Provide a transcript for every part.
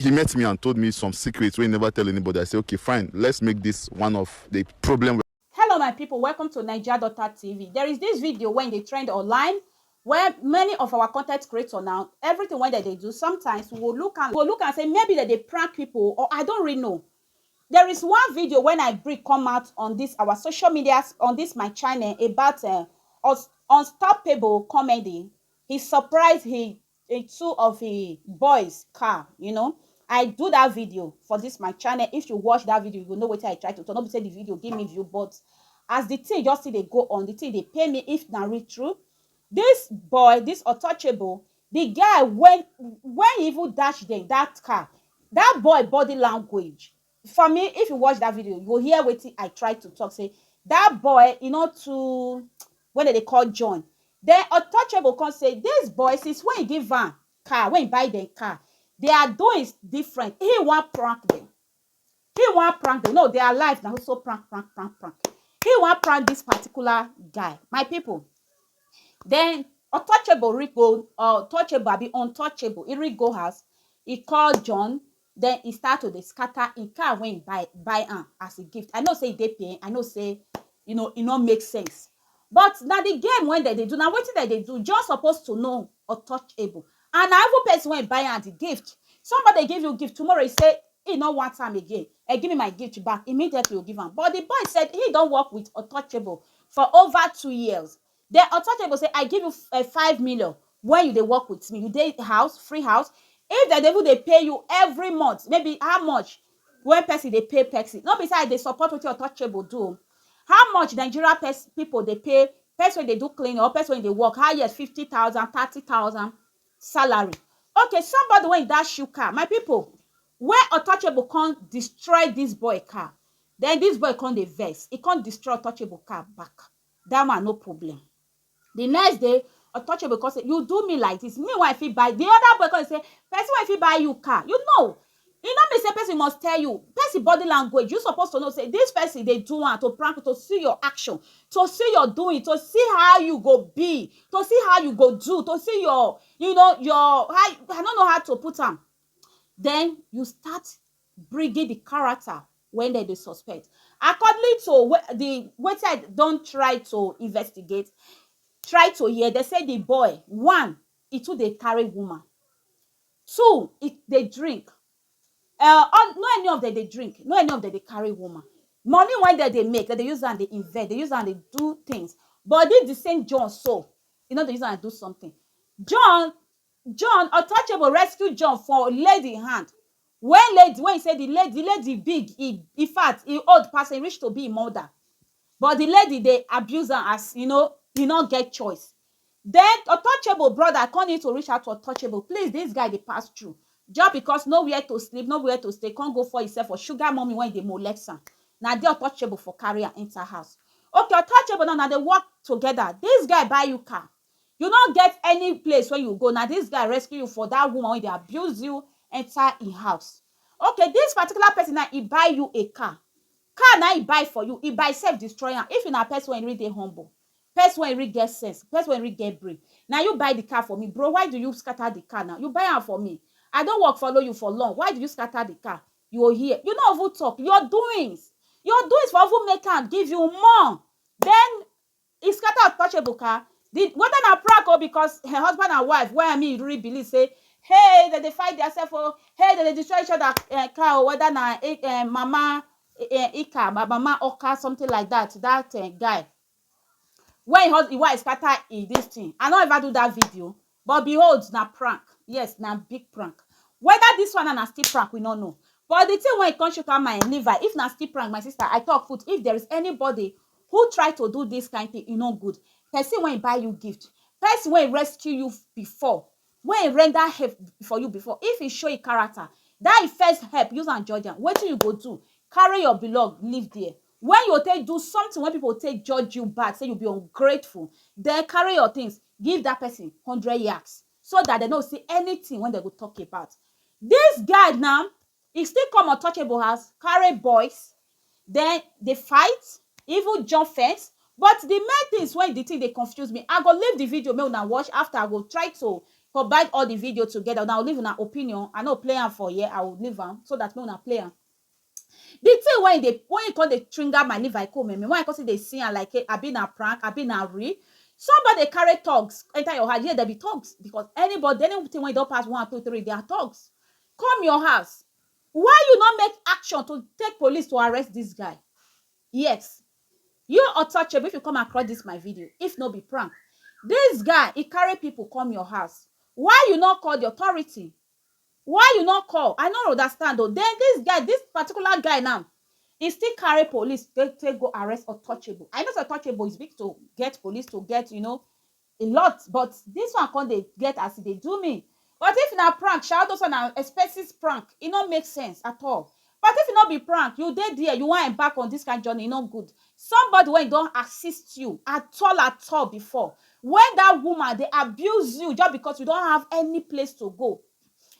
He met me and told me some secrets wey he never tell anybody, I say okay fine let's make this one of the problem wey Hello my people welcome to naija daughter TV there is this video wey dey trend online where many of our content creator na everything wey dem dey do sometimes we go look am we go look am say maybe dem dey prank people or I don't really know there is one video when I bring come out on this our social media on this my channel about um unstoppable comedy He surprise he in two of he boys car you know I do that video for this my channel if you watch that video you go know wetin I try to talk no be say the video give me view but as the thing just still dey go on the thing dey pain me if na real true this boy this untouchable the guy when when he even dash them that car that boy body language For me if you watch that video you go hear wetin I try to talk say that boy e no too when dem dey call John then untouchable come say this boy since when he give am car when he buy them car their doings different he wan prank them he wan prank them no their life na so so prank prank prank prank he wan prank this particular guy my people then untouchable reach go untouchable abi untouchable he reach go house he call John Den he start to dey scatter he car wey he buy buy am as a gift. I know sey he dey pain, I know sey you know he no make sense but na the game wey dem dey do, na wetin dem dey do. John suppose to know untouchable and na even person wey buy am the gift. Somebody give you gift tomorrow he sey he no want am again um give me my gift back, immediately you go give am but the boy said he don work with untouchable for over two years. Den Otoje go say, I give you um five million wen you dey work with me, you dey house, free house, if dem dey even dey pay you every month, maybe how much wen person dey pay person, no be sey I dey support wetin Otouchegbo do o, how much Nigeria person pipu dey pay person wey dey do cleaning or person wey dey work, highest fifty thousand, thirty thousand salary. Okay, somebody wey e dash shoe car, my pipu, wey Otouchegbo con destroy dis boy car, den dis boy con dey vex, e con destroy Otouchegbo car back. that one no problem the next day untouchable come say you do me like this me wey i fit buy the other boy come say person wey fit buy you car you know e no mean say person must tell you person body language you suppose to know say this person dey do am to prank you to see your action to see your doing to see how you go be to see how you go do to see your you know your how i no know how to put am then you start bringing di character wey dem dey suspect accordingly to di wetin I don try to investigate try to hear dem say di boy one e too dey carry woman two e dey drink um all no any of dem dey drink no any of dem dey carry woman money wey dem dey make dem dey use am dey invest dey use am dey do things but dis di same John so e no dey use am do something John John untouchable rescue John for lady hand wen lady wen e say di lady di lady big e infact e old pass am e reach to be im mother but di lady dey abuse am as you know e no get choice den untouchable brother come need to reach out to untouchable please dis guy dey pass through just because no where to sleep no where to stay come go fall himself for sugar mummy wen dey molest am na there untouchable for carry am enter house okay untouchable now una dey work together dis guy buy you car You no get any place wey you go, na dis guy rescue you for dat woman wey dey abuse you enter im house. Okay, dis particular person now, e buy you a car. Car na im e buy for you, e by sef destroy am. If na person wey really dey humble, person wey really get sense, person wey really get brain, na you buy the car for me. Bro, why do you scatter the car now? You buy am for me. I don work follow you for long, why do you scatter the car? You go hear. You no even talk. Your doings, your doings for even make am give you more. Den E scatter untouchable car, di whether na prank o because her husband and wife wey me really believe say hey dem dey fight their self o, hey dem dey destroy each other car o whether na mama Ika or mama Oka something like that, that guy wey im wife scatter im dis thing I no ever do that video But behold, na prank, yes, na big prank. Whether dis one now na still prank, we no know. But the thing wey e come chook eye my liver, if na still prank, my sister, I talk put, if there is anybody who try to do dis kind thing, e no good. Person wey buy you gift, person wey rescue you before, wey render help for you before, if e show e character, dat e first help, use am judge am, wetin you go do? Carry your belong leave dere. When you go take do something wey people go take judge you bad, say you be ungrateful, den carry your things Give that person hundred yaks so that dem no go see anything wey dem go talk about. This guy now, e still come untouchable house carry boys then dey fight, e even jump fence but the main things wey the thing dey confuse me, I go leave the video make una watch after I go try to combine all the video together, una go leave una opinion, I no play am for here, I will leave am so that make una play am. The thing wey e dey wey e come dey trigger my liver e come meh meh wey I come still dey see am like abi na prank abi na real somebody dey carry thugs enter your house yes dem be thugs because anybody anything wey e don pass one two three they are thugs come your house why you no make action to take police to arrest this guy yes you untouchable if you come across this my video if no be prank this guy e carry people come your house why you no call the authority Why you no call I no rodastand o then this guy this particular guy now he still carry police take take go arrest untouchable I know say untouchable is big to get police to get you know a lot but this one come dey get as e dey do me but if na prank sha all those one na expenses prank e no make sense at all But if e no be prank, you dey there, you wan embark on this kind journey, e no good. Somebody wey don assist you at all at all before, when that woman dey abuse you just because you don't have any place to go,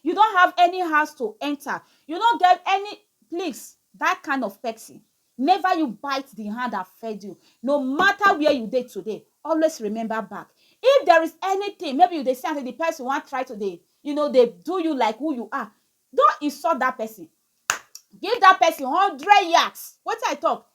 you don't have any house to enter, you no get any, please, that kind of person, never you bite the hand that fed you. No matter where you dey today, always remember back. If there is anything, maybe you dey see am sey the person wan try to dey, you know, dey do you like who you are, Don't insult that person give that person hundred yards wetin I talk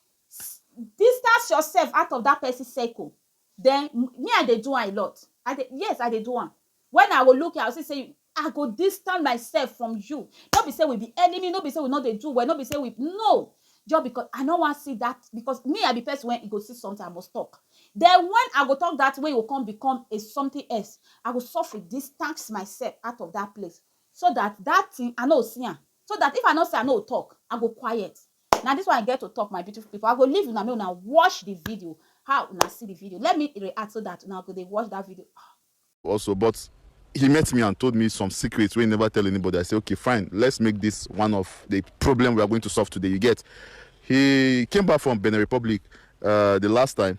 distance yourself out of that person circle then me I dey do am a lot I dey yes I dey do am when I go look you I go see sey I go distance myself from you no be sey we be enemy no be sey we no dey do well no be sey we no just because I no wan see that because me I be person wey e go see something I must talk then when I go talk that thing wey e go come become a something else I go sofri distance myself out of that place So dat dat tin I no see am So dat if I no see am I no talk I go quiet Na dis one I get to talk my beautiful people I go leave una make una watch the video How una see the video Let me react so dat una go dey watch dat video Ahh also but he met me and told me some secrets wey he never tell anybody I say okay fine let's make this one of the problem we are going to solve today you get he came back from Benin Republic uh the last time.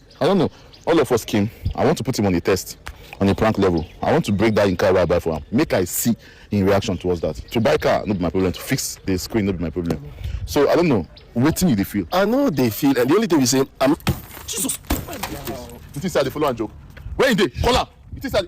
I don't know. All of us came. I want to put him on a test, on a prank level. I want to break that in car where I buy for him. Make I see in reaction towards that. To buy car, not be my problem. To fix the screen, not be my problem. So I don't know. Waiting you they feel. I know they feel, and the only thing we say, I'm. Jesus. You think say I dey follow and joke? Where you dey? Call am. You think say I dey-